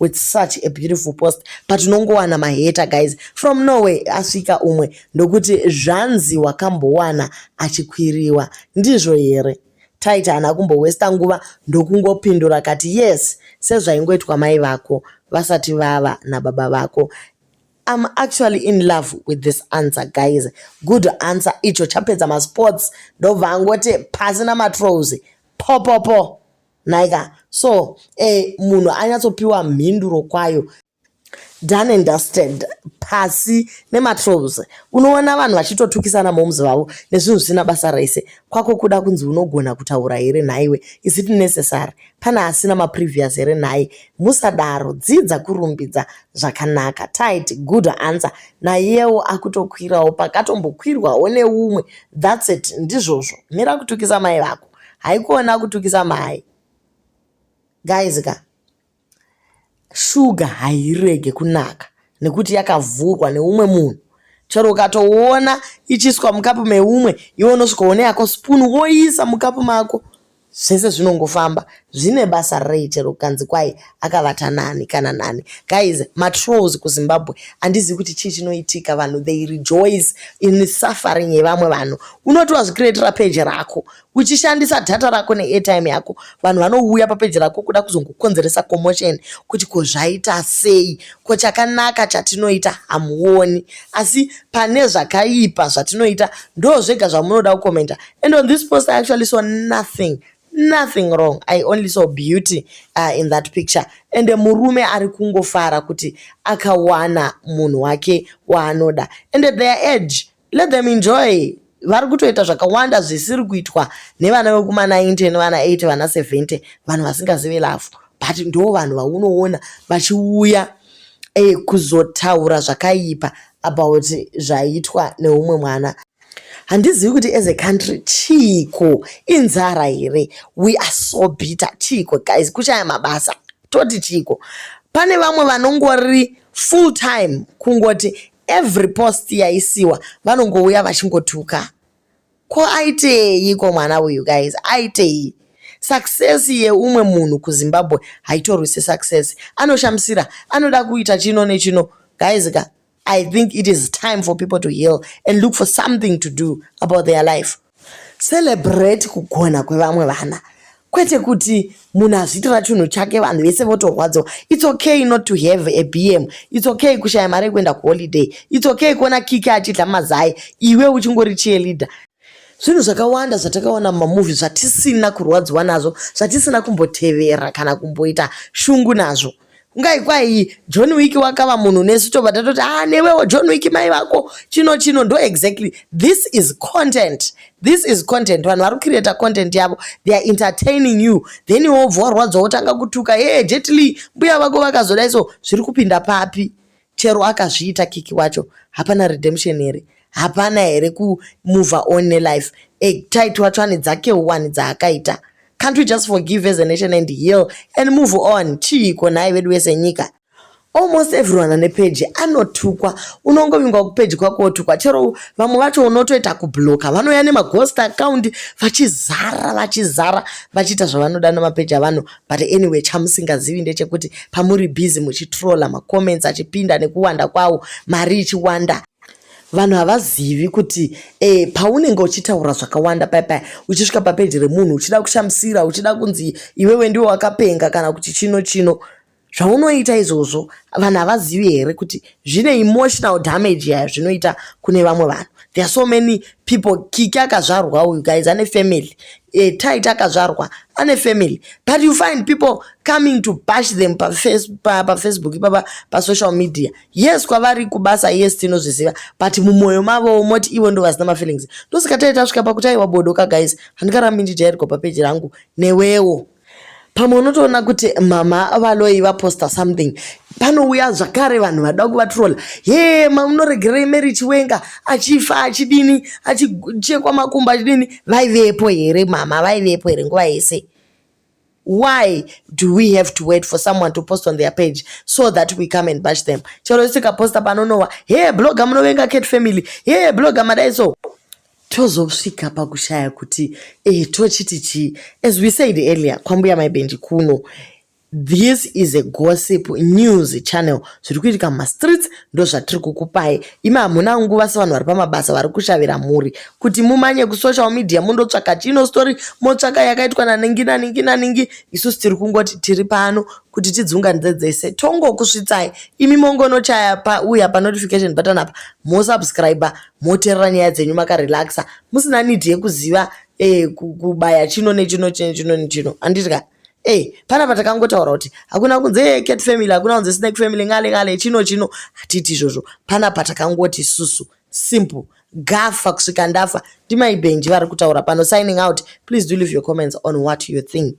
with such a beautiful post but unongowana maheta guys from norway asvika umwe ndokuti zvanzi wakambowana achikwiriwa ndizvo here taita hana kumbowesta nguva ndokungopindura kati yes sezvaingoitwa mai vako vasati vava nababa vako I'm actually in love with this answer guys good answer icho chapedza masports ndobva angoti pasi namatrows popopo po. nhaika so eh, munhu anyatsopiwa mhinduro kwayo done and dusted pasi nematrobs unoona vanhu vachitotukisana moms vavo nezvinhu zvisina basa rese kwako kuda kunzi unogona kutaura here nhaiwe is it necessary pane asina maprevious here nhai musadaro dzidza kurumbidza zvakanaka tit good answer naiyewo akutokwirawo pakatombokwirwawo neumwe thats it ndizvozvo mira kutukisa mai vako haikona kutukisa mai guys ka shuga hairege kunaka nekuti yakavhurwa neumwe munhu chero ukatoona ichiswa mukapu meumwe iwe unosvika one yako spoon woisa mukapu mako zvese zvinongofamba zvine basa rei chero kukanzi kwai akavata nani kana nani guys matrolls kuzimbabwe handizivi kuti chii chinoitika vanhu they rejoice in suffering yevamwe vanhu unoti wazvikiretera peji rako uchishandisa dhata rako neairtime yako vanhu vanouya papeji rako kuda kuzongokonzeresa commotion kuti ko zvaita sei ko chakanaka chatinoita hamuoni asi pane zvakaipa zvatinoita ndo zvega zvamunoda kukomenta and on this post i actually saw nothing nothing wrong i only saw beauty uh, in that picture and murume ari kungofara kuti akawana munhu wake waanoda and at their age let them enjoy vari kutoita zvakawanda zvisiri kuitwa nevana vekuma 90 nevana 8 vana 70 vanhu vasingazive lafu but ndo vanhu vaunoona vachiuya eh, kuzotaura zvakaipa about zvaitwa neumwe mwana handizivi kuti as a country chiiko inzara here we are so bitter chiiko guys kushaya mabasa toti chiiko pane vamwe vanongori full time kungoti every post yaisiwa vanongouya vachingotuka ko aitei ko mwana uyu guys aitei success yeumwe munhu kuzimbabwe haitorwise success anoshamisira anoda kuita chino nechino guys ka I think it is time for people to heal and look for something to do about their life. Celebrate kugona kwevamwe vana kwete kuti munhu azviitira chinhu chake vanhu vese votorwadziwa its okay not to have a bm its okay kushaya mari yekuenda kuholiday its okay kuona kiki achidla mazai iwe uchingori cheerleader zvinhu zvakawanda zvatakaona mumamuvi zvatisina kurwadziwa nazvo zvatisina kumbotevera kana kumboita shungu nazvo kungai kwai john wiki wakava munhu nesu tobva tatoti a ah, newewo john wiki mai vako chino chino ndo exactly this is content this is content vanhu vari kucreata content yavo they are entertaining you then iwo bvo warwadza wotanga kutuka ye jetly mbuya vako vakazoda iso zviri kupinda papi Chero akazviita kiki wacho hapana redemption here? Hapana here ku move on nelife? E tight wacho ane dzake one dzaakaita. Can't we just forgive as a nation and heal and move on? Chiiko nhai vedu vese nyika? almost everyone ane peji anotukwa unongovingwa kupeji kwako wotukwa chero vamwe vacho unotoita kubloka vanouya nemaghost account vachizara vachizara vachiita zvavanoda nemapeji avanhu but anyway chamusingazivi ndechekuti pamuri busy muchitrolla macomments achipinda nekuwanda kwawo mari ichiwanda vanhu havazivi kuti e, paunenge uchitaura zvakawanda paya paya uchisvika papeji remunhu uchida kushamisira uchida kunzi iwewe ndiwe wakapenga kana kuti chino chino zvaunoita izvozvo vanhu havazivi here kuti zvine emotional damage yayo zvinoita kune vamwe vanhu there are so many people kiki akazvarwa uyu guys ane family e, tit akazvarwa ane family but you find people coming to bash them pafacebook pa, pa, pa ipapa pasocial media yes kwavari kubasa yes tinozviziva but mumwoyo mavo moti ivo ndo vasina mafeelings ndosika tai tasvika pakuti aiwa bodoka guys handikarambi ndijairwa papeji rangu newewo pamwe unotoona kuti mama valoyi vaposta something panouya zvakare vanhu vada kuvatrola he mamunoregerei mary chiwenga achifa achidini achichekwa makumbo achidini vaivepo here mama vaivepo here nguva yese why do we have to wait for someone to post on their page so that we come and bash them chero sikaposta panonowa he blogger munovenga cat family he blogger madai so tozosvika pakushaya kuti eh, tochiti chii as we said earlier kwambuya maibendi kuno this is a gossip news channel zviri kuitika mumastreets ndozvatiri kukupai imi hamuna nguva sevanhu vari pamabasa vari kushavira mhuri kuti mumanye kusocial media mundotsvaka chino story motsvaka yakaitwa naningi naningi naningi isusu tiri kungoti tiri pano kuti tidzunganidze dzese tongokusvitsai imi mongonochaya pauya panotification button apa mosubscribe moterera nyaya dzenyu makarelaxa musina need yekuziva eh, kubaya chino nechino chino chino nechino anditya Hey, eh, pana patakangotaura kuti hakuna kunze cat family hakuna kunze snake family ngale ngale chino chino hatiti izvozvo pana patakangoti isusu simple gafa kusvika ndafa ndimai benji vari kutaura pano signing out please do leave your comments on what you think